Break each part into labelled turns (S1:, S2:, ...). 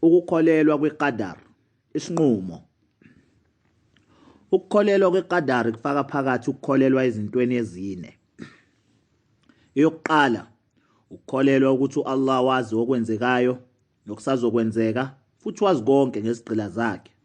S1: ukukholelwa kwiqadar isinqumo ukukholelwa kweqadar kufaka phakathi ukukholelwa ezintweni ezine eyokuqala ukukholelwa ukuthi uAllah wazi okwenzekayo nokusazokwenzeka futhi wazi konke ngezigqila zakhe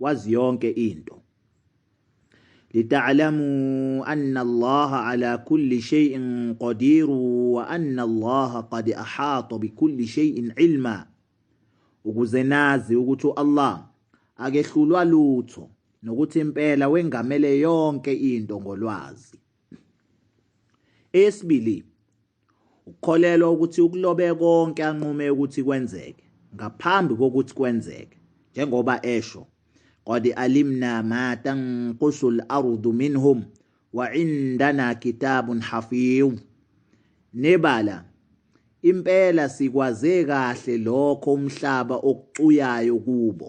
S1: wazi yonke into lita'lamu anna Allah ala kulli shay'in qadir wa anna Allah qad ahata bi kulli shay'in ilma ukuze nazi ukuthi Allah akehlulwa lutho nokuthi impela wengamele yonke into ngolwazi esibili Ukukholelwa ukuthi ukulobe konke anqume ukuthi kwenzeke ngaphambi kokuthi kwenzeke njengoba esho qad alimna ma tanqusu al-ardu minhum wa indana kitabun hafiz nebala impela sikwaze kahle lokho umhlaba okucuyayo kubo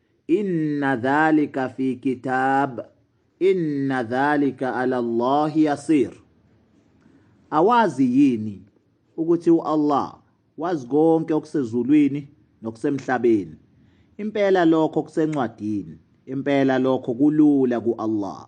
S1: Inna dhalika fi kitab inna dhalika ala Allah yasir Awazi yini ukuthi uAllah wazi konke okusezulwini nokusemhlabeni impela lokho kusencwadini impela lokho kulula kuAllah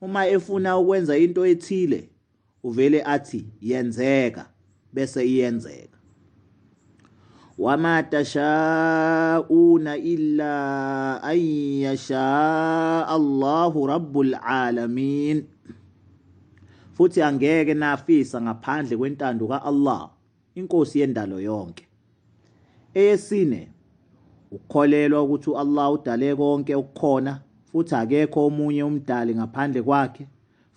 S1: Uma efuna ukwenza into ethile uvele athi yenzeka bese iyenzeka wama tashauna illa an yasha Allahu rabbul alamin futhi angeke nafisa ngaphandle kwentando kaAllah inkosi yendalo yonke. Eyesine, ukukholelwa ukuthi u-Allah udale konke okukhona futhi akekho omunye umdali ngaphandle kwakhe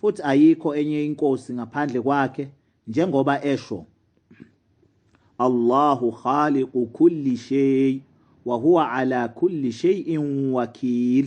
S1: futhi ayikho enye inkosi ngaphandle kwakhe njengoba esho Allahu khaliqu kulli shay wa huwa ala kulli shay'in wakil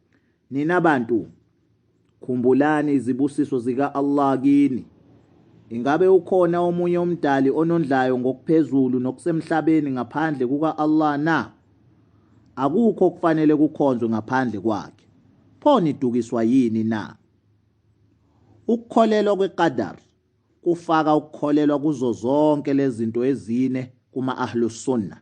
S1: Nina bantu khumbulani izibusiso zika Allah kini. Ingabe ukhona omunye umdali onondlayo ngokuphezulu nokusemhlabeni ngaphandle kuka Allah na? Akukho okufanele kukhonzwe ngaphandle kwakhe. Pho nidukiswa yini na? Ukukholelwa kweqadar kufaka ukukholelwa kuzo zonke lezinto ezine kuma ahlus sunnah.